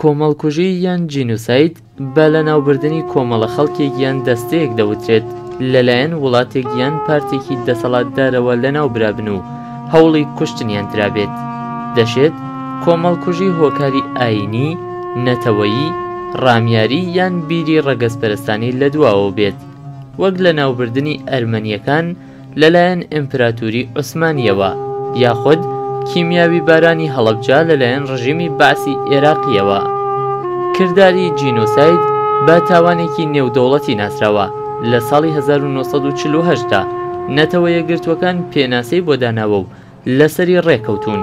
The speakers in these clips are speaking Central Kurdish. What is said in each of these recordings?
کۆمەڵکوژی یان جینوساید بە لەناوبردنی کۆمەڵە خەڵکێک یان دەستەیەک دەوترێت لەلایەن وڵاتێک یان پارتێکی دەسەڵاتدارەوە لەناو برابن و هەوڵی کوشتنیان درابێت دەشێت کۆمەڵکوژی هۆکاری ئاینی نەتەوەیی ڕامیاری یان بیری ڕەگەزپەرستانی لە دواوە بێت وەک لەناوبردنی ئەرمەنیەکان لەلایەن ئیمپراتوری عوسمانیەوە یاخود کیمیاویبارانی هەڵەبجە لەلایەن ڕژیمی بەعسی ئێراقیەوە کرداری جینۆساید بە تاوانێکی نێودەوڵەتی ناسراوە لە ساڵی 1948 دا نەتەوە یەکگرتووەکان پێناسەی بۆ داناوە و لەسەری ڕێکەوتوون.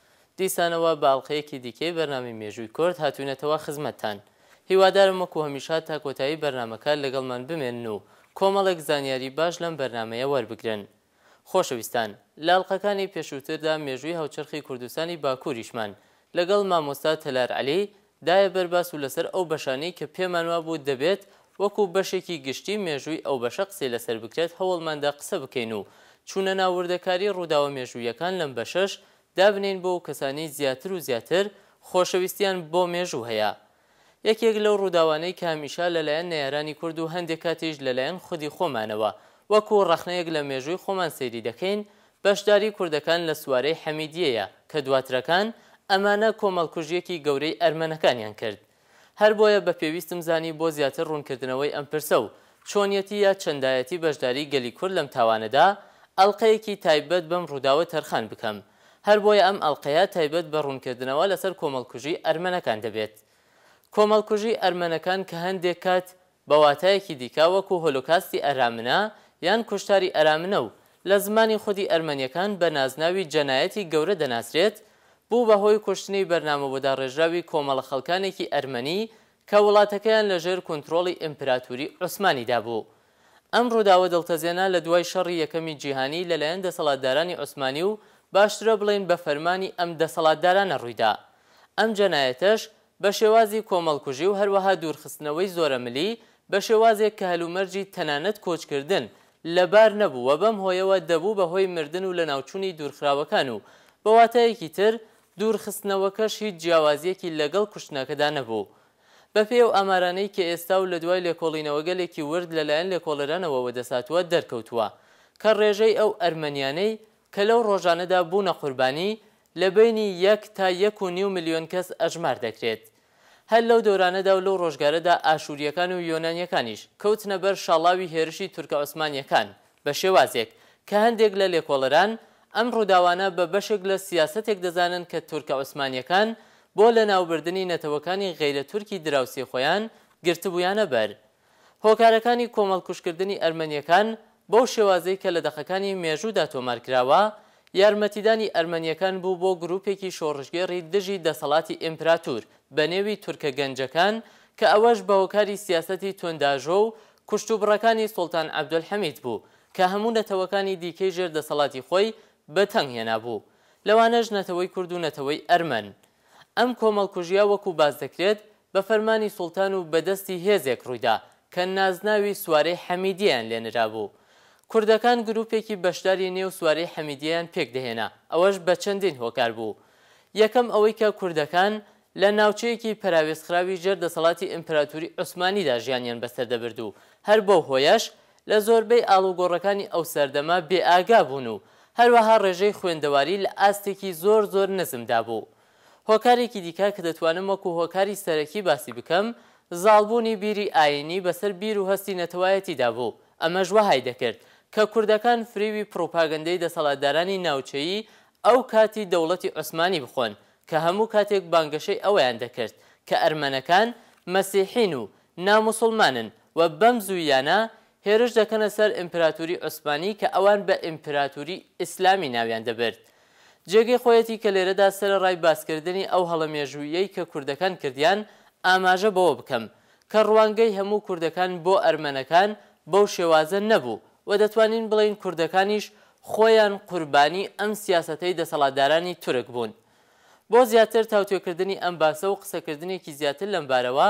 دیسانەوە بە ئەڵقەیەکی دیکەی بەرنامەی مێژووی کۆرد هاتووینەتەوە خزمەتتان. هیوادارم وەکو هەمیشە تا کۆتایی بەرنامەکە لەگەڵمان بمێنن و کۆمەڵێک زانیاری باش لەم بەرنامەیە وەربگرن. خۆشەویستان، لە ئەڵقەکانی پێشووتردا مێژووی هاوچەرخی کوردستانی باکووریشمان لەگەڵ مامۆستا تەلار عەلی، دایە بەر باس و لەسەر ئەو بەشانەی کە پێمان وابوو دەبێت وەکو بەشێکی گشتی مێژووی ئەو بەشە قسەی لەسەر بکرێت هەوڵماندا قسە بکەین و چوونە ناو وردەکاری ڕووداوە مێژوویەکان لەم بەشەش دابنێین بۆ ئەوکەسانەی زیاتر و زیاتر خۆشەویستیان بۆ مێژوو هەیە. یەکێک لەو ڕووداوانەی کە هەمیشە لەلایەن نەیارانی کورد و هەندێک کاتیش لەلایەن خودی خۆمانەوە وەکو ڕەخنەیەک لە مێژووی خۆمان سەیری دەکەین بەشداری کوردەکان لە سوارەی حەمیدیەیە کە دواترەکان ئەمانە کۆمەڵکوژیەکی گەورەی ئەرمەنەکانیان کرد هەر بۆیە بە پێویستم زانی بۆ زیاتر ڕوونکردنەوەی ئەم پرسە و چۆنیەتی یا چەندایەتی بەشداری گەلی کورد لەم تاوانەدا ئەڵقەیەکی تایبەت بەم ڕووداوە تەرخان بکەم هەر بۆیە ئەم ئەڵقەیە تایبەت بە ڕوونکردنەوە لەسەر کۆمەڵکوژی ئەرمەنەکان دەبێت کۆمەڵکوژی ئەرمەنەکان کە هەندێک کات بە واتایەکی دیکە وەکو هۆلۆکاستی ئەرامنە یان کوشتاری ئەرامنە و لە زمانی خودی ئەرمەنیەکان بە نازناوی جەنایەتی گەورە دەناسرێت، بوو بە هۆی کوشتنی بەرنامەبۆداڕێژراوی کۆمەڵە خەڵکانێکی ئەرمەنی کە وڵاتەکەیان لە ژێر کونتڕۆڵی ئیمپراتوری عوسمانیدا بوو. ئەم ڕووداوە دڵتەزێنە لە دوای شەڕی یەکەمی جیهانی لە لایەن دەسەڵاتدارانی عوسمانی و باشترە بڵێین بە فەرمانی ئەم دەسەڵاتدارانە ڕوویدا. ئەم جەنایەتەش بە شێوازی کۆمەڵکوژی و هەروەها دوورخستنەوەی زۆرەملی بە شێوازێک کە هەلومەرجی تەنانەت کۆچکردن لەبار نەبوو و بەم هۆیەوە دەبوو بە هۆی مردن و لەناوچوونی دوورخراوەکان و بە واتایەکی تر دوورخستنەوەکەش هیچ جیاوازییەکی لەگەڵ کوشتنەکەدا نەبوو بەپێی ئەو ئامارانەی کە ئێستا و لە دوای لێکۆڵینەوەگەلێکی ورد لەلایەن لێکۆڵەرانەوە وەدەسهاتووە دەرکەوتووە کە ڕێژەی ئەو ئەرمەنیانەی کە لەو ڕۆژانەدا بوونە قوربانی لە بەینی یەک تا یەک و نیو ملیۆن کەس ئەژمار دەکرێت. هەر لەو دەورانەدا و لەو ڕۆژگارەدا ئاشوورییەکان و یۆنانییەکانیش کەوتنە بەر شاڵاوی هێرشی تورکە عوسمانییەکان بە شێوازێک کە هەندێک لە لێکۆڵەران ئەم ڕووداوانە بە بەشێک لە سیاسەتێک دەزانن کە تورکە عوسمانییەکان بۆ لەناوبردنی نەتەوەکانی غەیرە تورکی دراوسێی خۆیان گرتبوویانە بەر هۆکارەکانی کۆمەڵکوژکردنی ئەرمەنییەکان بەو شێوازەی کە لە دەقەکانی مێژوودا تۆمار کراوە، یارمەتیدانی ئەرمەنییەکان بوو بۆ گرووپێکی شۆڕشگێڕی دژی دەسەڵاتی ئیمپراتور بە نێوی تورکە گەنجەکان کە ئەوەش بە هۆکاری سیاسەتی توندئاژۆ و کوشتوبڕەکانی سوڵتان عەبدولحەمید بوو کە هەموو نەتەوەکانی دیکەی ژێر دەسەڵاتی خۆی بە تەنگ هێنابوو لەوانەش نەتەوەی کورد و نەتەوەی ئەرمەن. ئەم کۆمەڵکوژییە وەکوو باس دەکرێت بە فەرمانی سوڵتان و بەدەستی هێزێک ڕوویدا کە نازناوی سوارەی حەمیدیەیان لێ نرابوو. کوردەکان گروپێکی بەشداری نێو سوارەی حەمیدیەیان پێک دەهێنا، ئەوەش بە چەندین هۆکار بوو. یەکەم ئەوەی کە کوردەکان لە ناوچەیەکی پەراوێزخراوی ژێر دەسەڵاتی ئیمپراتوری عوسمانیدا ژیانیان بەسەر دەبرد و هەر بەو هۆیەش لە زۆربەی ئاڵوگۆڕەکانی ئەو سەردەمە بێئاگا بوون و هەروەها ڕێژەی خوێندەواری لە ئاستێکی زۆر زۆر نزمدا بوو. هۆکارێکی دیکە کە دەتوانم وەکو هۆکاری سەرەکی باسی بکەم، زاڵبوونی بیری ئایینی بەسەر بیر و هەستی نەتەوایەتیدا بوو، ئەمەش وەهای دەکرد کە کوردەکان فریوی پڕوپاگەندەی دەسەڵاتدارانی ناوچەیی ئەو کاتی دەوڵەتی عوسمانی بخۆن کە هەموو کاتێک بانگەشەی ئەوەیان دەکرد کە ئەرمەنەکان مەسیحین و ناموسوڵمانن و بەم زووییانە هێرش دەکەنە سەر ئیمپراتوری عوسمانی کە ئەوان بە ئیمپراتوری ئیسلامی ناویان دەبرد. جێگەی خۆیەتی کە لێرەدا سەرەڕای باسکردنی ئەو هەڵە مێژووییەی کە کوردەکان کردیان، ئاماژە بەوە بکەم، کە ڕوانگەی هەموو کوردەکان بۆ ئەرمەنەکان بەو شێوازە نەبوو و دەتوانین بڵێین کوردەکانیش خۆیان قوربانی ئەم سیاسەتەی دەسەڵاتدارانی تورک بوون. بۆ زیاتر تاوتوێکردنی ئەم باسە و قسەکردنێکی زیاتر لەم بارەوە،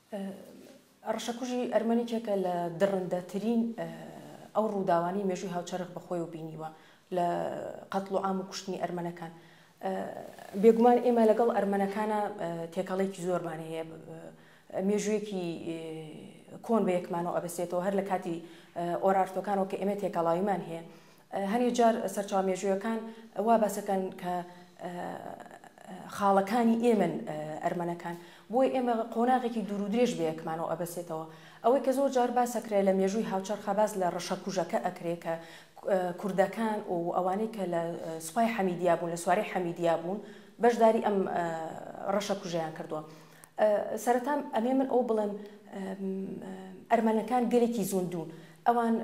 ڕەشەکوژی ئەرمەنیکێکە لە دڕندەترین ئەو ڕووداوانەی مێژووی هاوچەرخ بە خۆیەوە بینیوە لە قەتڵ و عام و کوشتنی ئەرمەنەکان. بێگومان ئێمە لەگەڵ ئەرمەنەکانە تێکەڵێکی زۆرمان هەیە مێژوویەکی کۆن بە یەکمانەوە ئەبەسێتەوە هەر لە کاتی ئۆرارتۆکانەوە کە ئێمە تێکەڵاویمان هەیە هەنێ جار سەرچاوە مێژوویەکان وا باسەکەن کە خاڵەکانی ئێمەن ئەرمەنەکان بۆی ئێمە قۆناغێکی دوور و درێژ بەیەکمانەوە ئەبەسێتەوە ئەوەی کە زۆر جار باسەکرێ لە مێژووی هاوچەرخە باس لە ڕەشە کوژەکە ئەکرێ کە کوردەکان و ئەوانەی کە لە سوپای حەمیدیا بوون لە سوارەی حەمیدیا بوون بەشداری ئەم ڕەشە کوژیان کردووە سەرەتام ئەمێ من ئەو بڵێم ئەرمەنەکان گەلێکی زوندون ئەوان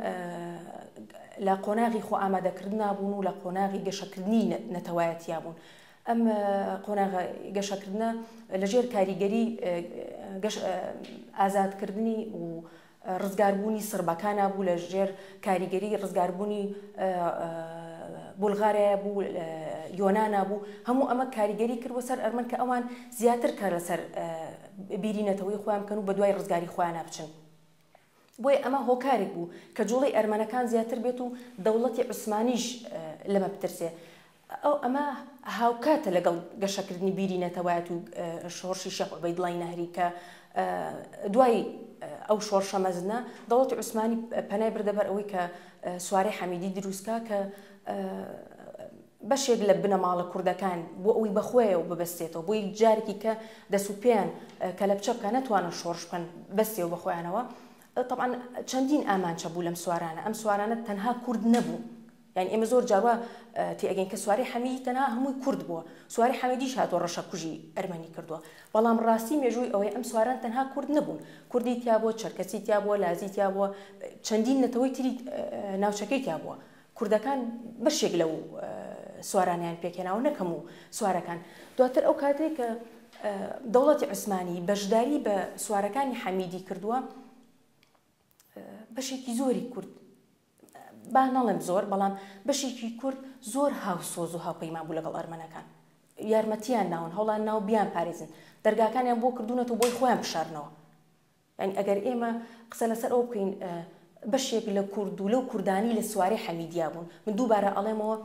لە قۆناغی خۆئامادەکردنا بوون و لە قۆناغی گەشەکردنی نەتەوایەتیا بوون. ئەم قۆناغە گەشەکردنە لەژێر کاریگەری ئازادکردنی و ڕزگاربوونی سڕبەکانا بوو لە ژێر کاریگەری ڕزگاربوونی بولغارایە بوو یۆنانا بوو هەموو ئەمە کاریگەری کرد وەسەر ئەرمەن کە ئەوان زیاتر کار لەسەر بیری نەتەوەی خۆیان بکەن و بە دوای ڕزگاری خۆیانە بچن بۆیە ئەمە هۆکارێک بوو کە جوڵەی ئەرمەنەکان زیاتر بێت و دەوڵەتی عوسمانیش لەمە بترسێ. ئەو ئەمە هاوکاتە لەگەڵ گەشەکردنی بیری نەتەوایەت و شۆڕشی شێخ عوبەیدڵای نەهری کە دوای ئەو شۆڕشە مەزنە دەوڵەتی عوسمانی پەنای بردە بەر ئەوەی کە سوارەی حەمیدی دروست کا کە بەشێک لە بنەماڵە کوردەکان بۆ ئەوەی بە خۆیەوە ببەستێتەوە، بۆ یەک جارێکی کە دەست و پێیان کەلەپچە بکا نەتوانن شۆڕش بکەن بەستێەوە بە خۆیانەوە، تەبعەن چەندین ئامانچە بوو لەم سوارانە، ئەم سوارانە تەنها کورد نەبوو، یانی ئێمە زۆر جار وا تێ ئەگەین کە سوارەی حەمیدی تەنها هەمووی کورد بووە، سوارەی حەمیدیش هاتووە ڕەشەکوژی ئەرمەنی کردووە، بەڵام ڕاستی مێژووی ئەوەیە ئەم سواران تەنها کورد نەبوون، کوردی تیا بووە، چەرکەسی تیا بووە، لازی تیا بووە، چەندین نەتەوەی تری ناوچەکەی تیا بووە. کوردەکان بەشێک لەو سوارانیان پێکهێناوە نەک هەموو سوارەکان دواتر ئەو کاتێک کە دەوڵەتی عوسمانی بەشداری بە سوارەکانی حەمیدی کردووە بەشێکی زۆری کورد با نەڵێم زۆر بەڵام بەشێکی کورد زۆر هاوسۆز و هاوپەیمان بوو لەگەڵ ئەرمەنەکان یارمەتیان ناون هەوڵان ناو بیان پارێزن دەرگاکانیان بۆ کردوونەتەوە بۆی خۆیان بشارنەوە یانی ئەگەر ئێمە قسە لەسەر ئەوە بکەین بەشێک لە کورد و لەو کوردانەی لە سوارەی حەمیدیە بوون، من دووبارە ئەڵێمەوە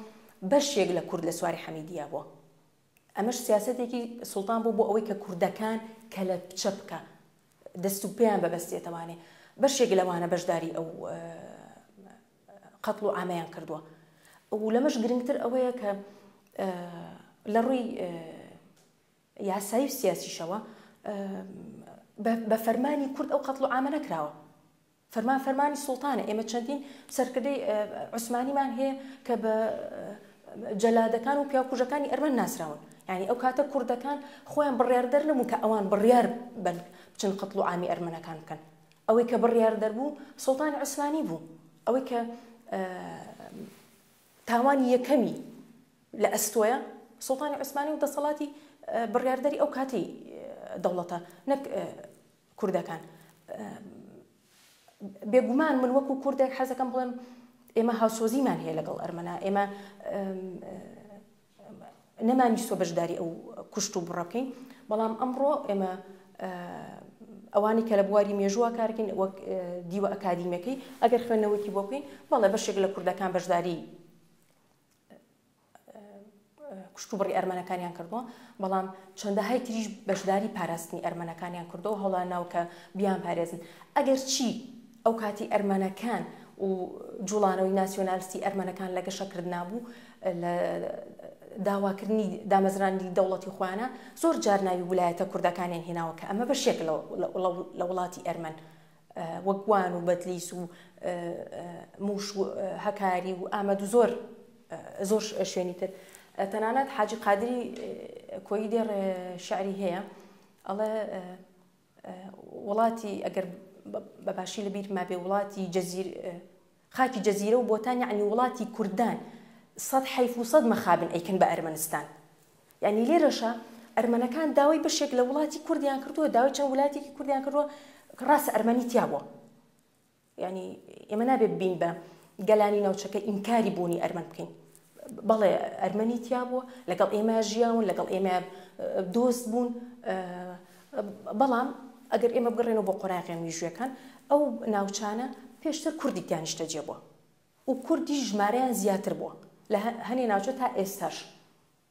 بەشێک لە کورد لە سوارەی حەمیدیە بووە، ئەمەش سیاسەتێکی سوڵتان بوو بۆ ئەوەی کە کوردەکان کەلەپچە بکا، دەست و پێیان ببەستێتەوانێ، بەشێک لەوانە بەشداری ئەو قەتڵ و عامەیان کردووە و لەمەش گرنگتر ئەوەیە کە لە ڕووی یاسایی و سیاسیشەوە بە فەرمانی کورد ئەو قەتڵ و عامە نەکراوە فەرمان فەرمانی سوڵتانە ئێمە چەندین سەرکردەی عوسمانیمان هەیە کە بە جەلادەکان و پیاکوژەکانی ئەرمەن ناسراون ینی ئەو کاتە کوردەکان خۆیان بڕیار دەر نەبوو کە ئەوان بڕیار بن بچن قەتڵ و ئامی ئەرمەنەکان بکەن ئەوەی کە بڕیار دەربوو سوڵتانی عوسمانی بوو ئەوەی کە تاوانی یەکەمی لە ئەستۆیە سوڵتانی عوسمانی و دەسەڵاتی بڕیاردەری ئەو کاتەی دەوڵەتە نەک کوردەکان. بێگومان من وەکو کوردێک حەزەکەم بڵێم ئێمە هاوسۆزیمان هەیە لەگەڵ ئەرمەنا ئێمە نەمانیستوە بەشداری ئەو کوشت و بڕە بکەین، بەڵام ئەمڕۆ ئێمە ئەوانەی کە لە بواری مێژووا کار دەکەین وەک دیوە ئەکادیمیەکەی ئەگەر خوێندنەوەیەکی بۆ بکەین بەڵێ بەشێک لە کوردەکان بەشداری کوشت و بڕی ئەرمەنەکانیان کردووە بەڵام چەندەهای تریش بەشداری پاراستنی ئەرمەنەکانیان کردو هەڵا ناو کە بیان پارێزن ئەگەر چی ئەو کاتی ئەرمەنەکان و جوڵانەوەی ناسیۆنالستی ئەرمەنەکان لە گەشە کردنا بوو لە داواکردنی دامەزرانی دەوڵەتی خۆیانە زۆر جار ناوی ولایەتە کوردەکانیان هێناوە کە ئەمە بەشێک لە وڵاتی ئەرمەن وەگوان و بەدلیس و موش و هەکاری و ئامەد و زۆر زۆر شوێنی تر تەنانەت حاجی قادری کۆی دێڕ شعری هەیە ئەڵێ وڵاتی ئەگەر بە باشی لە بیرما بێ وڵاتی جەزیر خاکی جەزیرە و بۆتان یعنی وڵاتی کوردان سەد حیف و سەد مەخابن ئەیکن بە ئەرمەنستان یعنی لێرەشە ئەرمەنەکان داوای بەشێک لە وڵاتی کوردیان کردووە داوای چەند ولاتێکی کوردیان کردووە ڕاستە ئەرمەنی تیا بووە یانی ئێمە نابێ ببین بە گەلانی ناوچەکە ئینکاری بوونی ئەرمەن بکەین بەڵێ ئەرمەنی تیا بووە لەگەڵ ئێمە ژیاون لەگەڵ ئێمە دۆست بوون بەڵام ئەگەر ئێمە بگەڕێنەوە بۆ قۆراغی میژوەکان ئەو ناوچانە پێشتر کوردی تیانیشتە جێ بووە و کوردی ژمارەیان زیاتر بووە لە هەنێ ناوچە تا ئێستاش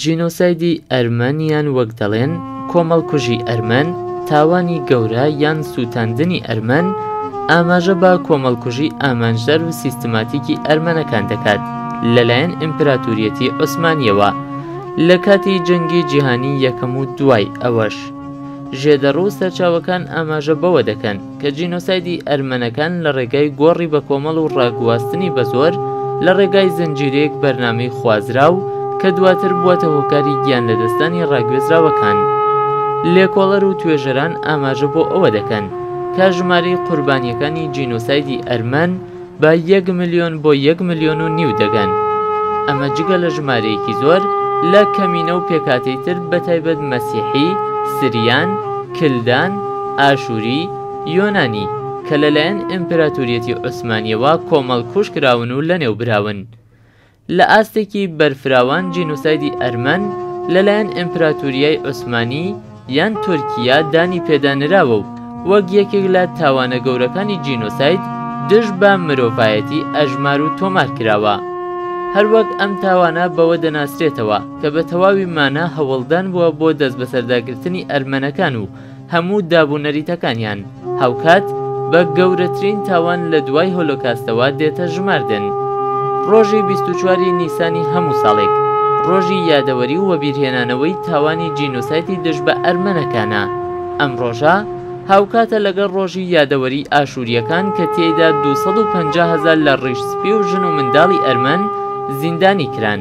جینۆسایدی ئەرمەنیان وەک دەڵێن کۆمەڵکوژی ئەرمەن تاوانی گەورە یان سووتاندنی ئەرمەن ئاماژە بە کۆمەڵکوژی ئامانجدار و سیستماتیکی ئەرمەنەکان دەکات لەلایەن ئیمپراتوریەتی عوسمانیەوە لە کاتی جەنگی جیهانی یەکەم و دوای ئەوەش. ژێدەڕو سەرچاوەکان ئاماژە بەوە دەکەن کە جینۆسایدی ئەرمەنەکان لە ڕێگای گۆڕی بەکۆمەڵ و ڕاگواستنی بەزۆر لە ڕێگای زنجیرەیەک بەرنامەی خوازراو کە دواتر بوەتە هۆکاری گیان لەدەستدانی ڕاگوێزراوەکان. لێکۆڵەر و توێژەران ئاماژە بۆ ئەوە دەکەن کە ژمارەی قوربانیەکانی جینۆسایدی ئەرمەن بە یەک ملیۆن بۆ یەک ملیۆن و نیو دەگەن، ئەمە جگە لە ژمارەیەکی زۆر لە کەمینە و پێکهاتەی تر بەتایبەت مەسیحی، سریان، کلدان، ئاشوری، یۆنانی کە لەلایەن ئیمپراتوریەتی عوسمانیەوە کۆمەڵکوژکراون و لەنێوبراون. لە ئاستێکی بەرفراوان جینۆسایدی ئەرمەن لەلایەن ئیمپراتوریای عوسمانی یان تورکیا دانی پێدا نراوە و وەک یەکێک لە تاوانە گەورەکانی جینۆساید دژ بە مرۆڤایەتی ئەژمار و تۆمار کراوە. هەروەک ئەم تاوانە بەوە دەناسرێتەوە کە بە تەواوی مانا هەوڵدان بووە بۆ دەستبەسەرداگرتنی ئەرمەنەکان و هەموو داب و نەریتەکانیان، هاوکات بە گەورەترین تاوان لە دوای هۆلۆکاستەوە دێتە ژماردن. ڕۆژی بیست و چوار ی نیسانی هەموو ساڵێک، ڕۆژی یادەوەری و وەبیرهێنانەوەی تاوانی جینۆسایتی دژ بە ئەرمەنەکانە. ئەم ڕۆژە هاوکاتە لەگەڵ ڕۆژی یادەوەری ئاشوورییەکان کە تێیدا دوو سەد و پەنجا هەزار لە ڕیش سپی و ژن و منداڵی ئەرمەن زیندانی کران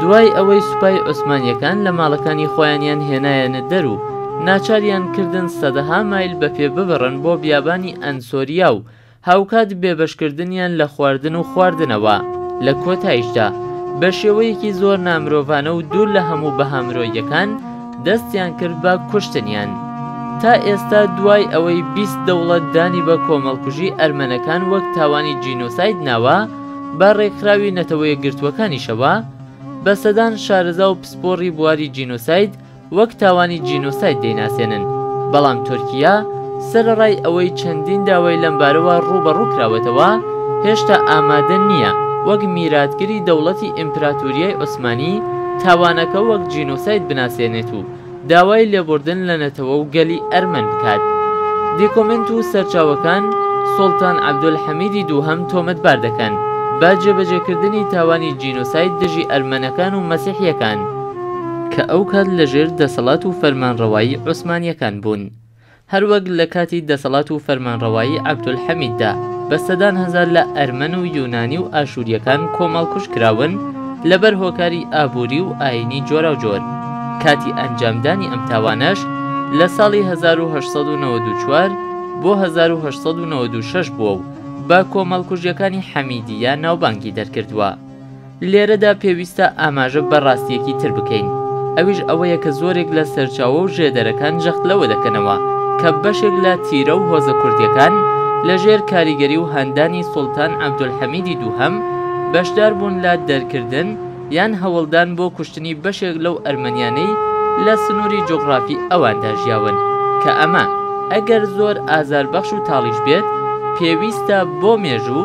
دوای ئەوەی سوپای عوسمانییەکان لە ماڵەکانی خۆیانیان هێنایەنە دەر و ناچاریان کردن سەدەها مایل بە پێ ببڕن بۆ بیابانی ئەنسۆریا و هاوکات بێبەشکردنیان لە خواردن و خواردنەوە، لە کۆتایشدا بە شێوەیەکی زۆر نامرۆڤانە و دوور لە هەموو بەها مرۆییەکان دەستیان کرد بە کوشتنیان. تا ئێستا دوای ئەوەی بیست دەوڵەت دانی بە کۆمەڵکوژی ئەرمەنەکان وەک تاوانی جینۆساید ناوە، بە ڕێکخراوی نەتەوەیەکگرتووەکانیشەوە بە سەدان شارەزا و پسپۆڕی بواری جینۆساید وەک تاوانی جینۆساید دەیناسێنن، بەڵام تورکیا سەرەڕای ئەوەی چەندین داوای لەمبارەوە ڕووبەڕوو کراوەتەوە، هێشتا ئامادە نییە وەک میراتگری دەوڵەتی ئیمپراتوریای عوسمانی تاوانەکە وەک جینۆساید بناسێنێت و داوای لێبوردن لە نەتەوە و گەلی ئەرمەن بکات. دیکۆمێنت و سەرچاوەکان سوڵتان عەبدولحەمیدی دووهەم تۆمەتبار دەکەن بە جێبەجێکردنی تاوانی جینۆساید دژی ئەرمەنەکان و مەسیحییەکان، کە ئەو کات لە ژێر دەسەڵات و فەرمانڕەوایی عوسمانیەکان بوون هەر وەک لە کاتی دەسەڵات و فەرمانڕەوایی عەبدولحەمیددا بە سەدان هەزار لە ئەرمەن و یونانی و ئاشوریەکان کۆمەڵکوژ کراون لە بەر هۆکاری ئابوری و ئاینی جۆراوجۆر کاتی ئەنجامدانی ئەم تاوانەش لە ساڵی هەزار و هەشت سەد و نەوەد و چوار بۆ هەزار و هەشت سەد و نەوەد و شەش بووە و بە کۆمەڵکوژیەکانی حەمیدیە ناوبانگی دەرکردووە. لێرەدا پێویستە ئاماژە بە ڕاستییەکی تر بکەین، ئەویش ئەوەیە کە زۆرێک لە سەرچاوە و ژێدەرەکان جەخت لەوە دەکەنەوە کە بەشێک لە تیرە و هۆزە کوردییەکان لە ژێر کاریگەری و هاندانی سوڵتان عەبدولحەمیدی دووهەم بەشدار بوون لە دەرکردن یان هەوڵدان بۆ کوشتنی بەشێک لەو ئەرمەنیانەی لە سنووری جوغڕافی ئەواندا ژیاون کە ئەمە ئەگەر زۆر ئازاربەخش و تاڵیش بێت پێویستە بۆ مێژوو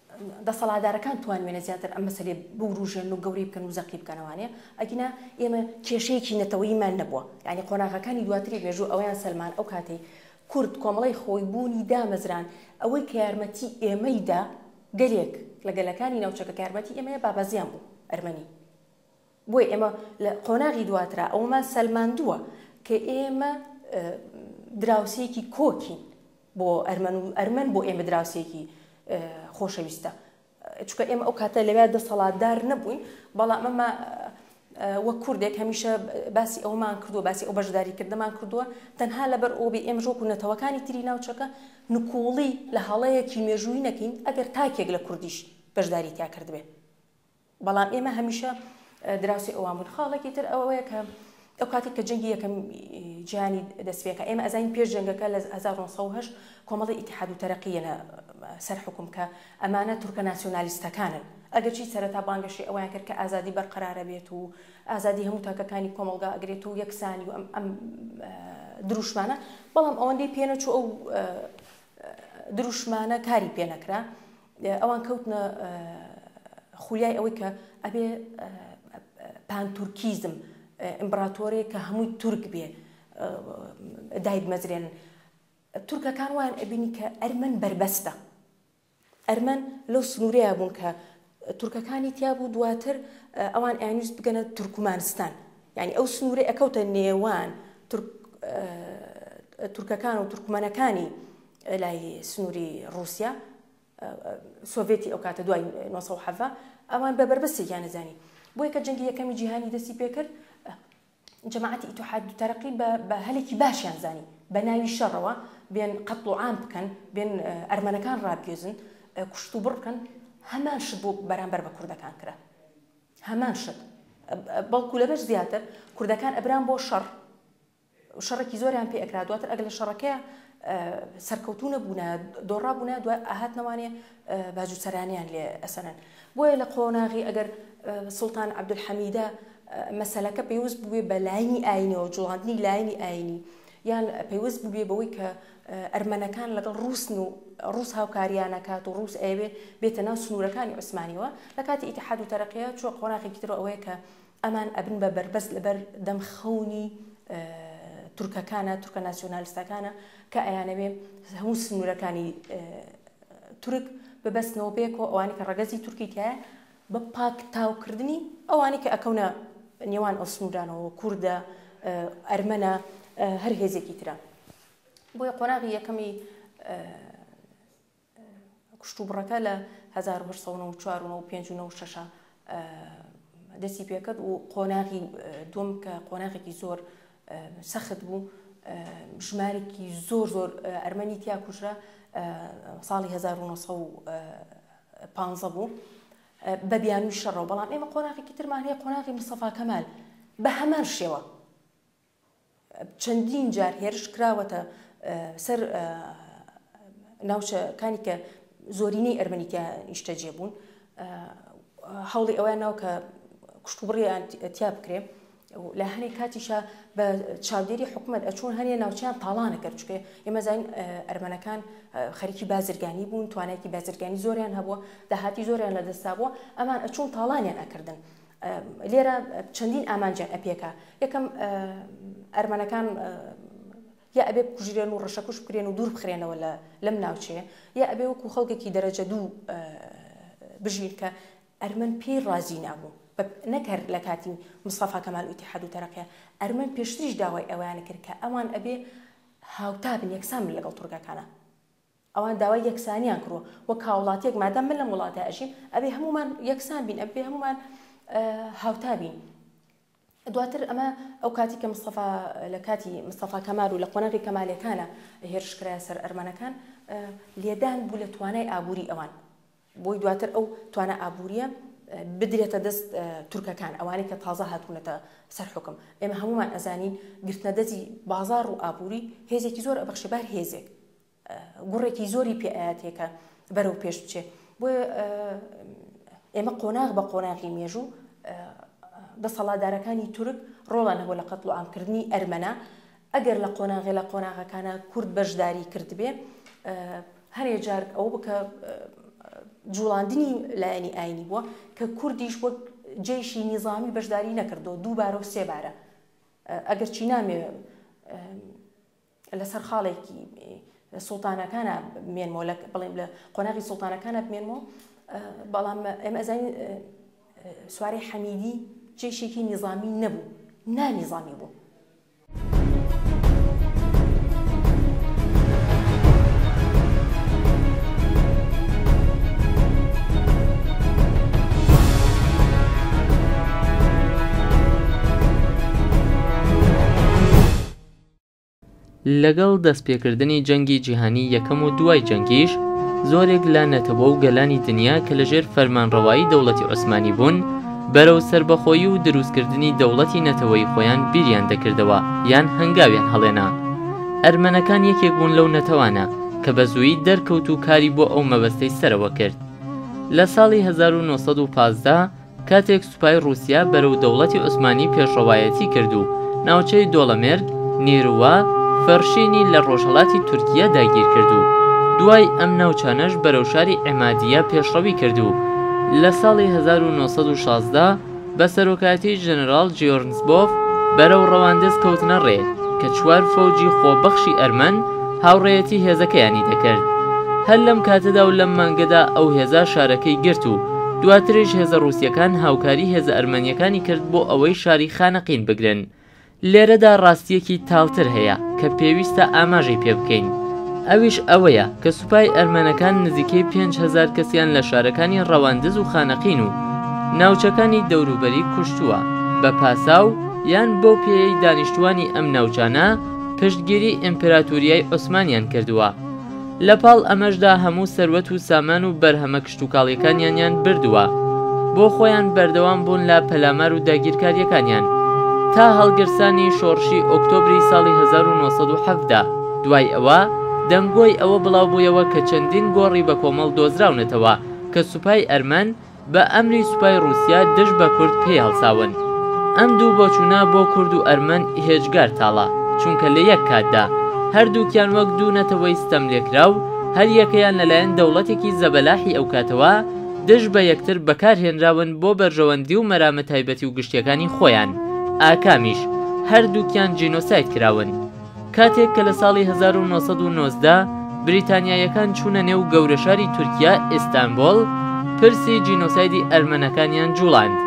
دەسەڵاتدارەکان توانوێنە زیاتر ئەم مەسەلەیە بوروژێنن و گەورەی بکەن و زەقی بکەنە وانەیە ئەگینا ئێمە کێشەیەکی نەتەوەییمان نەبووە یانی قۆناغەکانی دواتری مێژوو ئەوەیان سەلمان ئەو کاتەی کورد کۆمەڵەی خۆی بوونی دامەزراند ئەوەی کە یارمەتی ئێمەی دا گەلێک لە گەلەکانی ناوچەکە کە یارمەتی ئێمەیە بابەزیان بوو ئەرمەنی بۆیە ئێمە لە قۆناغی دواترا ئەوەمان سەلماندووە کە ئێمە دراوسێکی کۆکین بۆ ئەرمەن و ئەرمەن بۆ ئێمە دراوسێکی خۆشەویستە چکە ئێمە ئەو کاتە لەوێ دەسەڵاتدار نەبووین بەڵام ئەمە وە کوردێک هەمیشە باسی ئەومان کردو باسی ئەو بەشداری کردمان کردووە تەنها لەبەر ئۆبی ئێمە ژۆک و نەتەوەکانی تری ناوچەکە نکوڵی لە هەڵەیەکی مێژووی نەکەین ئەگەر تاکێک لە کوردیش بەشداری تیا کردبێت بەڵام ئێمە هەمیشە دراوسی ئەوان بوون خاڵێکی تر ئەوەیە کە ئەو کاتێک کە جەنگی یەکەم جیهانی دەستپێکە ئێمە ئەزانین پێش جەنگەکە لە 1970 کۆمەڵی ئیتحاد و تەرەقیەنە سەر حکوم کە ئەمانە تورکە ناسیۆنالیستەکانن ئەگەرچی سەرەتا بانگەشی ئەویان کرد کە ئازادی بەرقەرارە بێت و ئازادی هەموو تاکەکانی کۆمەلگا ئەگرێت و یەکسانی و ئەم دروشمانە بەڵام ئەوەندەی پێنەچوو ئەو دروشمانە کاری پێنەکرا ئەوان کەوتنە خولیای ئەوەی کە ئەبێ پانتورکیزم ئیمبراتۆرێک کە هەمووی تورک بێ دایدمەزرێن تورکەکان وایان ئەبینی کە ئەرمەن بەربەستە ئەرمەن لەو سنوورەیە بوون کە تورکەکانی تیا بوو دواتر ئەوان ئەیانویست بگەنە تورکمانستان یعنی ئەو سنوورە ئەکەوتە نێوان تورکەکان و تورکمەنەکانی لای سنوری ڕوسیا سۆڤێتی ئەو کاتە دوای 1970 ئەوان بە بەربەستێکیان نەزانی بۆیە کە جەنگی یەکەمی جیهانی دەستی پێکرد جەماعەتی ئیتحاد و تەرەقی بە هەلێکی باشیان زانی بە ناوی شەڕەوە بێن قەتڵ و عام بکەن بێن ئەرمەنەکان ڕابگێزن کوشت و بڕ بکەن هەمان شت بۆ بەرامبەر بە کوردەکان کرا هەمان شت بەڵکو لەبەر زیاتر کوردەکان ئەبران بۆ شەڕ شەڕێکی زۆریان پێ ئەکرا دواتر ئەگەر لە شەڕەکەیە سەرکەوتو نەبوونە دۆڕا بوونە دو ئاهات نەوانێ باجوچەرانیان لێ ئەسەنن بۆیە لە قۆناغی ئەگەر سلتان عبدولحەمیدە مەسلەکە پێوست بووێ بە لاینی ئاینەوە جوڵاندنی لاینی ئاینی یان پێوست بووێ بەوەی کە ئەرمەنەکان لەگەڵ ڕوسن و ڕوس هاوکاریانەکات و ڕوس ئەوێ بێتە ناو سنوورەکانی عوسمانیەوە لە کاتی ئیتحاد و تەرەقەیە چوە قۆناغێکی تر ئەوەیە کە ئەمان ئەبن بە بەربەست لەبەر دەم خەونی تورکەکانە، تورکە ناسیۆنالستەکانە کە ئەیانەوێ هەموو سنوورەکانی تورک ببەستنەوە بێ کۆ ئەوانی کە ڕەگەزی تورکی تایە بە پاک تاوکردنی ئەوانی کە ئەکەونە نێوان ئەو سنوورانەوە کوردە ئەرمەنە هەر هێزێکی ترە بۆیە قۆناغی یەکەمی کوشتوبڕەکە لە هەزار و هەشت سەد و نەوەد و چوار و نەوەد و پێنج و نەوەد و شەش دەستی پێکرد و قۆناغی دووەم کە قۆناغێکی زۆر سەخت بوو ژمارێکی زۆر زۆر ئەرمەنی تیا کوژرا ساڵی 1950 بوو بە بیانوی شەڕەوە بەڵام ئێمە قۆناغێکی ترمان هەیە قۆناغی مستەفا کەمال بە هەمان شێوە چەندین جار هێرش کراوەتە سەر ناوچەکانی کە زۆرینەی ئەرمەنی تیا نیشتەجێ بوون هەوڵی ئەویان ناو کە کوشتوبڕیان تیا بکرێ لە هەنێ کاتیشە بە چاودێری حکوومەت ئەچون هەنێ ناوچیان تاڵانە کەرچکێ ئێمەزین ئەرمەنەکان خەریکی بازرگانی بوون توانایکی بازرگانی زۆریان هەبووە داهاتی زۆریان لە دەستا بووە ئەمان ئەچون تاڵانیان ئەکردن لێرە چەندین ئامانجیان ئەپێکا، یەکەم ئەرمەنەکان یا ئەبێ بکوژرێن و ڕەشەکوش بکرێن و دوور بخرێنەوە لەم ناوچەیە، یا ئەبێ وەکو خەڵکێکی دەرەجە دوو بژین کە ئەرمەن پێی ڕازی نابوون، نەک هەر لە کاتی مستەفا کەمال و ئیتیحاد و تەرەقە، ئەرمەن پێشتریش داوای ئەوەیان کرد کە ئەوان ئەبێ هاوتا بن، یەکسان بن لەگەڵ تورکەکانا. ئەوان داوای یەکسانیان کروە وەک هاوڵاتیەک مادام من لەم وڵاتە ئەژیم ئەبێ هەموومان یەکسان بین ئەبێ هەموومان هاوتا بین دواتر ئەمە ئەو کاتی کە مستەفا لە کاتی مستەفا کەمال و لە قۆناغی کەمالەکانە هێرشکرایە سەر ئەرمەنەکان لێدان بوو لە توانای ئابووری ئەوان بۆی دواتر ئەو توانە ئابووریە بدرێتە دەست تورکەکان ئەوانەی کە تازە هاتوونەتە سەر حکم ئێمە هەمومان ئەزانین گرتنە دەزی بازار و ئابووری هێزێکی زۆر ئەبخشێ بار هێزێک گوڕێکی زۆری پێ ئەیاتێ کە بەرەو پێش بچێ بۆیە ئێمە قۆناغ بە قۆناغی مێژوو دەسەڵاتدارەکانی تورک ڕۆڵان هەبوو لە قەتڵ و ئامکردنی ئەرمەنە ئەگەر لە قۆناغێ لە قۆناغەکانە کورد بەشداری کردبێ هەرێ جارک ئەو بکە جوڵاندنی لایەنی ئاینی بووە کە کوردیش وەک جێشی نیزامی بەشداری نەکردو دووبارە و سێبارە ئەگەر چی نامێ لەسەر خاڵێکی سوڵتانەکانە بمێنمەوە لە بڵێم لە قۆناغی سوڵتانەکانە بمێنمەوە بەڵام ئێمە ئەزانین سواری حەمیدی جێشێکی نیظامی نەبوو نانیظامی بوو لەگەڵ دەستپێکردنی جەنگی جیهانی یەکەم و دوای جەنگیش، زۆرێک لە نەتەوە و گەلانی دنیا کە لەژێر فەرمانڕەوایی دەوڵەتی عوسمانی بوون، بەرەو سەربەخۆیی و دروستکردنی دەوڵەتی نەتەوەیی خۆیان بیریان دەکردەوە یان هەنگاویان هەڵێنا. ئەرمەنەکان یەکێک بوون لەو نەتەوانە کە بەزوویی دەرکەوت و کاری بۆ ئەو مەبەستەی سەرەوە کرد. لە ساڵی هەزار و نۆ سەد و پازدە، کاتێک سوپای ڕووسیا بەرەو دەوڵەتی عوسمانی پێشڕەوایەتی کرد و ناوچەی دۆڵەمێرگ، نیروە، فەرشینی لە ڕۆژهەڵاتی تورکییە داگیر کرد و دوای ئەم ناوچانەش بەرەو شاری عێمادییە پێشڕەوی کرد و لە ساڵی هەزار و نۆ سەد و شازدە بە سەرۆکایەتی ژەنەراڵ جیۆرنسبۆف بەرەو ڕەواندز کەوتنە ڕێ کە چوار فەوجی خۆبەخشی ئەرمەن هاوڕێیەتی هێزەکەیانی دەکرد. هەر لەم کاتەدا و لەم مانگەدا ئەو هێزە شارەکەی گرت و دواتریش هێزە ڕووسییەکان هاوکاری هێزە ئەرمەنییەکانی کرد بۆ ئەوەی شاری خانەقین بگرن. لێرەدا ڕاستییەکی تاڵتر هەیە کە پێویستە ئاماژەی پێ بکەین، ئەویش ئەوەیە کە سوپای ئەرمەنەکان نزیکەی پێنج هەزار کەسیان لە شارەکانی ڕەواندز و خانەقین و ناوچەکانی دەوروبەری کوشتووە بە پاساو یان بەو پێیەی دانیشتووانی ئەم ناوچانە پشتگیری ئیمپراتوریای عوسمانیان کردووە. لەپاڵ ئەمەشدا هەموو سەروەت و سامان و بەرهەمە کشتوکاڵیەکانیانیان بردووە بۆ خۆیان بەردەوام بوون لە پەلامار و داگیرکاریەکانیان تا هەڵگرسانی شۆڕشی ئۆکتۆبری ساڵی هەزار و نۆ سەد و حەڤدە دوای ئەوە دەنگۆی ئەوە بڵاوبوویەوە کە چەندین گۆڕی بەکۆمەڵ دۆزراونەتەوە کە سوپای ئەرمەن بە ئەمری سوپای ڕوسیا دژ بە کورد پێی هەڵساون ئەم دوو بۆچوونە بۆ کورد و ئەرمەن ئیهجگار تاڵە چونکە لە یەک کاتدا هەردووکیان وەک دوو نەتەوەی ستەملێکراو هەریەکەیان لەلایەن دەوڵەتێکی زەبەلاحی ئەوکاتەوە دژ بە یەکتر بەکارهێنراون بۆ بەرژەوەندی و مەرامە تایبەتی و گشتیەکانی خۆیان، ئاکامیش هەردووکیان جینۆساید کراون. کاتێک کە لە ساڵی هەزار و نۆ سەد و نۆزدە بریتانیاییەکان چوونە نێو گەورەشاری تورکیا، ئیستانبوڵ، پرسی جینۆسایدی ئەرمەنەکانیان جوڵاند،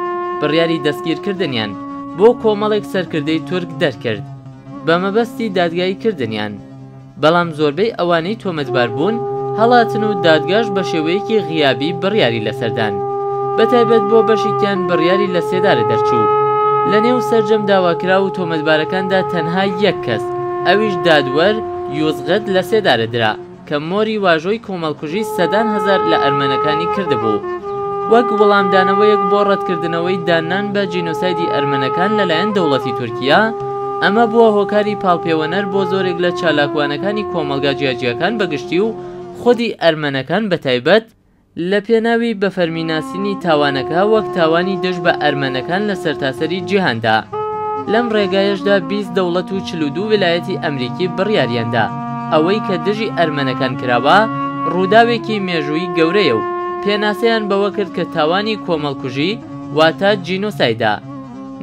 بڕیاری دەستگیرکردنیان بۆ کۆمەڵێک سەرکردەی تورک دەرکرد بە مەبەستی دادگایی کردنیان. بەڵام زۆربەی ئەوانەی تۆمەتبار بوون هەڵاتن و دادگاش بە شێوەیەکی غیابی بڕیاری لەسەر دان. بە تایبەت بۆ بەشێکیان بڕیاری لە سێدارە دەرچوو. لە نێو سەرجەم داواکراو و تۆمەتبارەکاندا تەنها یەک کەس ئەویش دادوەر یوزغت لە سێدارە درا کە مۆری واژۆی کۆمەڵکوژی سەدان هەزار لە ئەرمەنەکانی کردبوو وەک وڵامدانەوەیەک بۆ ڕەتکردنەوەی داننان بە جینۆسایدی ئەرمەنەکان لەلایەن دەوڵەتی تورکیا ئەمە بووە هۆکاری پاڵپێوەنەر بۆ زۆرێک لە چالاکوانەکانی کۆمەڵگا جیاجیاکان بە گشتی و خودی ئەرمەنەکان بە تایبەت، لە پێناوی بە فەرمی ناسینی تاوانەکە وەک تاوانی دژ بە ئەرمەنەکان لە سەرتاسەری جیهاندا. لەم ڕێگایەشدا بیست دەوڵەت و چل و دوو ویلایەتی ئەمریکی بڕیاریان دا ئەوەی کە دژی ئەرمەنەکان کراوە ڕووداوێکی مێژووی گەورەیە و پێناسەیان بەوە کرد کە تاوانی کۆمەڵکوژی واتە جینۆسایدە.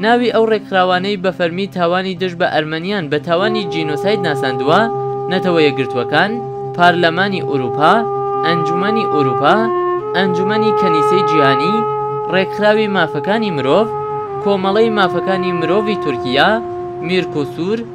ناوی ئەو ڕێکخراوانەی بە فەرمی تاوانی دژ بە ئەرمەنیان بە تاوانی جینۆساید ناساندووە، نەتەوە یەکگرتووەکان، پارلەمانی ئورووپا، ئەنجومەنی ئورووپا، ئەنجومەنی کەنیسەی جیهانی، ڕێکخراوی مافەکانی مرۆڤ، کۆمەڵەی مافەکانی مرۆڤی تورکییە، میرکوسور،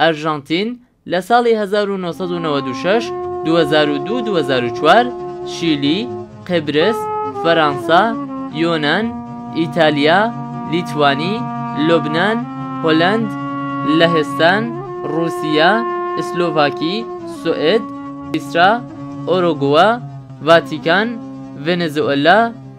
ئەرژەنتین لە ساڵی هەزار و نۆ سەد و نەوەد و شەش، دوو هەزار و دوو، دوو هەزار و چوار، شیلی، قبرس، فەرانسا، یۆنان، ئیتالیا، لیتوانی، لوبنان، هولەند، لەهستان، ڕووسیا، ئسلۆڤاکی، سوئد، سویسرا، ئۆرۆگوئ، ڤاتیکان، ڤێنێزوئێلا،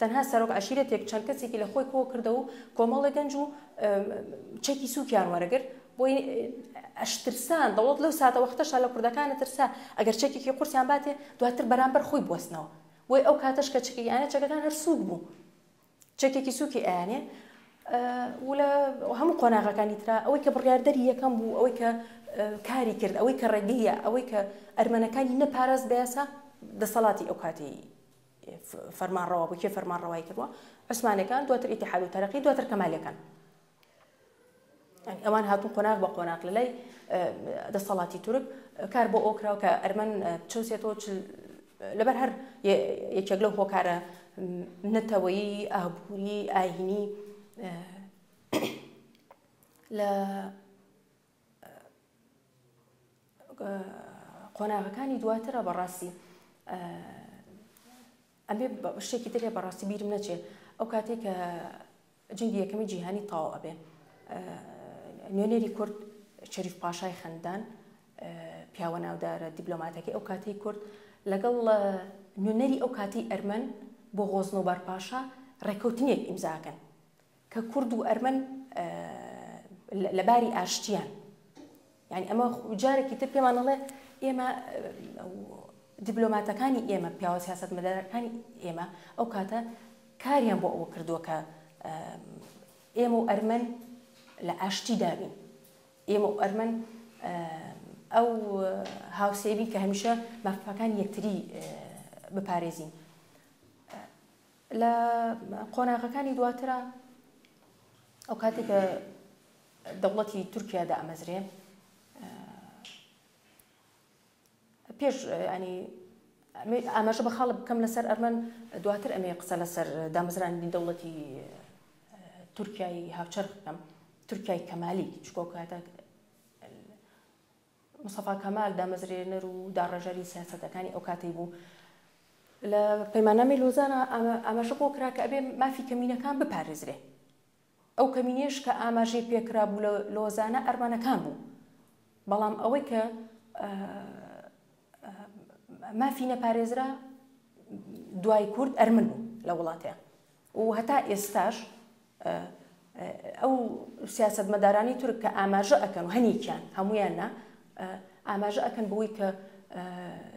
تەنها سەرۆک عەشیرەتێک چەند کەسێکی لە خۆی کۆ کردەوە و کۆمەڵێ گەنج و چەکی سووکیان وەرەگرت بۆی ئەشترسان دەوڵەت لەو ساتە وەختەشا لە کوردەکانە ترسا ئەگەر چەکێکی قورسیان باتێ دواتر بەرامبەر خۆی بوەستنەوە بۆی ئەو کاتەش کە چکی یانە چەکەکان هەر سووک بوو چەکێکی سووکی ئەیانێ ولە هەموو قۆناغەکانی تررا ئەوەی کە بڕاردەری یەکەم بوو ئەوەی کە کاری کرد ئەوەی کە ڕێگەیە ئەوەی کە ئەرمەنەکانی نەپارێز بەسا دەسەڵاتی ئەو کاتی فەرمانڕەوا بوو کێ فەرمانڕەوایی کردووە عوسمانەکان دواتر ئیتحاد و تەرەقی دواتر کەمالەکان ئەوان هاتون قۆناغ بە قۆناغ لە لای دەسەڵاتی تورک کار بۆ ئەوکراوە کە ئەرمەن چەوسێتەوە لەبەر هەر یەکێک لەو هۆکارە نەتەوەیی ئابووری ئاینی لە قۆناغەکانی دواترە بەڕاستی ئەبێ شتێکی ترێ بەڕاستی بیرم نەچێ ئەو کاتێک کە جنگی یەکەمی جیهانی تاو ئەبێ نوێنەری کورد شەریف پاشای خەندان پیاوە ناودارە دیبلۆماتەکە ئەو کاتی کورد لەگەڵ نوێنەری ئەو کاتی ئەرمەن بۆ غۆزنەوبار پاشا ڕێککەوتنێک ئیمزاکەن کە کورد و ئەرمەن لە باری ئاشتیان یانی ئەمە جارێکی تر پێمان ئەڵێ ئێمە دیبلۆماتەکانی ئێمە پیاوە سیاست مەدارەکانی ئێمە ئەو کاتە کاریان بۆ ئەوە کردووە کە ئێمە و ئەرمەن لە ئاشتی دابین ئێمە و ئەرمەن ئەو هاوسێبی کە هەمیشە مافەکان یەکتری بپارێزین لە قۆناغەکانی دواترا ئەو کاتی کە دەوڵەتی تورکیا دامەزرێ پێش ئەنی ئاماژە بە خاڵە بکەم لەسەر ئەرمەن دواتر ئەمێ قسە لەسەر دامەزرانی دەوڵەتی تورکای هاوچەرخ بکەم تورکای کەمالی چکۆکاتە مستەفا کەمال دامەزرێنەر و داڕێژەری سیاسەتەکانی ئەو کاتەی بوو. لە پەیماننامەی لۆزانە ئاماژە بۆ کرا کە ئەبێ مافی کەمینەکان بپارێزرێ. ئەو کەمینەیش کە ئاماژەی پێ کرابوو لە لۆزانە ئەرمەنەکان بوو. بەڵام ئەوەی کە مافی نەپارێزرا دوای کورد ئەرمن بوو لە وڵاتێ. و هەتا ئێستاش ئەو سیاسەتمەدارانی تورک کە ئاماژە ئەکەن و هەنیکیان هەمویان نا ئاماژە ئەکەن بەوەی کە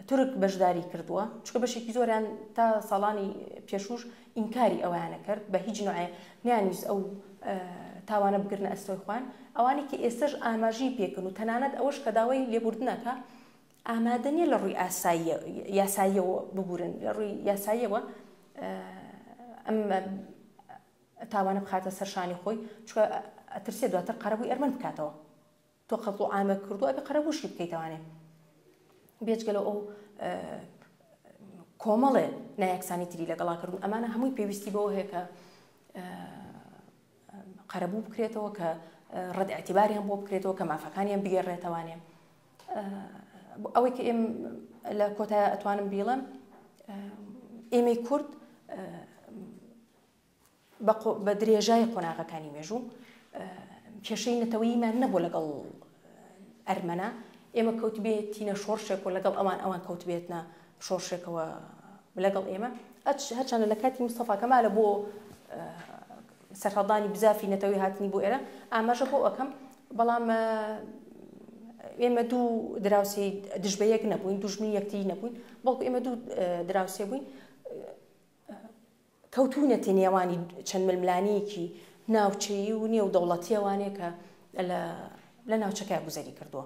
تورک بەشداری کردووە چکە بەشێکی زۆریان تا ساڵانی پێشوش ئینکاری ئەویانە کرد بە هیچ نوعێ نیانویست ئەو تاوانە بگرنە ئەستۆی خوان ئەوانی کە ئێستش ئاماژی پێکن و تەنانەت ئەوەش کە داوای لێبوردنەکە ئامادە نیە لە ڕووی یاساییەوە ببورن لە ڕووی یاساییەوە ئەم تاوانە بخاتە سەر شانی خۆی چکە ئەترسێ دواتر قەرەبووی ئەرمەند بکاتەوە تۆ قەت و ئامە کردو ئەبێ قەرەبووشی بکەیتوانێ بێجگەلە ئەو کۆمەڵێ نایەکسانی تری لەگەڵاکردون ئەمانە هەمووی پێویستی بەوە هەیە کە قەرەبوو بکرێتەوە کە ڕەت ئەتیباریان بۆ بکرێتەوە کە مافەکانیان بگەڕێتەوانێ ئەوەی کە ئێم لە کۆتای ئەتوانم بیڵم ئێمەی کورد بە درێژای قۆناغەکانی مێژوو کێشەی نەتەوەیمان نەبوو لەگەڵ ئەرمەنا ئێمە کەوتبێتینە شۆڕشێک و لەگەڵ ئەوان ئەوان کەوتبێتە شۆڕشێکەوە لەگەڵ ئێمە هەچانە لە کاتی مستەفاکەمالە بۆ سەرهەڵدانی بزافی نەتەوەی هاتنی بۆ ئێرە ئاماژە بۆ ئەکەم بەڵام ئێمە دوو دراوسی دژ بە یەک نەبووین دوژمنی یەکتی نەبووین بەڵکو ئێمە دوو دراوسێ بووین کەوتونەتی نێوانی چەند ململانەیەکی ناوچەیی و نێو دەوڵەتیەوانێکە لە ناوچەکە گوزەری کردووە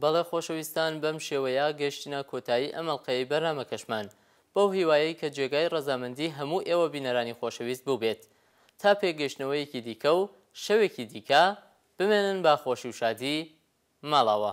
بەڵێ خۆشەویستان بەم شێوەیە گەیشتینە کۆتایی ئەم ئەڵقەیەی بەرنامەکەشمان بەو هیوایەی کە جێگای ڕەزامەندی هەموو ئێوە بینەرانی خۆشەویست بووبێت تا پێکگەیشتنەوەیەکی دیکە و شەوێکی دیکە بمێنن بە خۆشی و شادی ماڵاوا.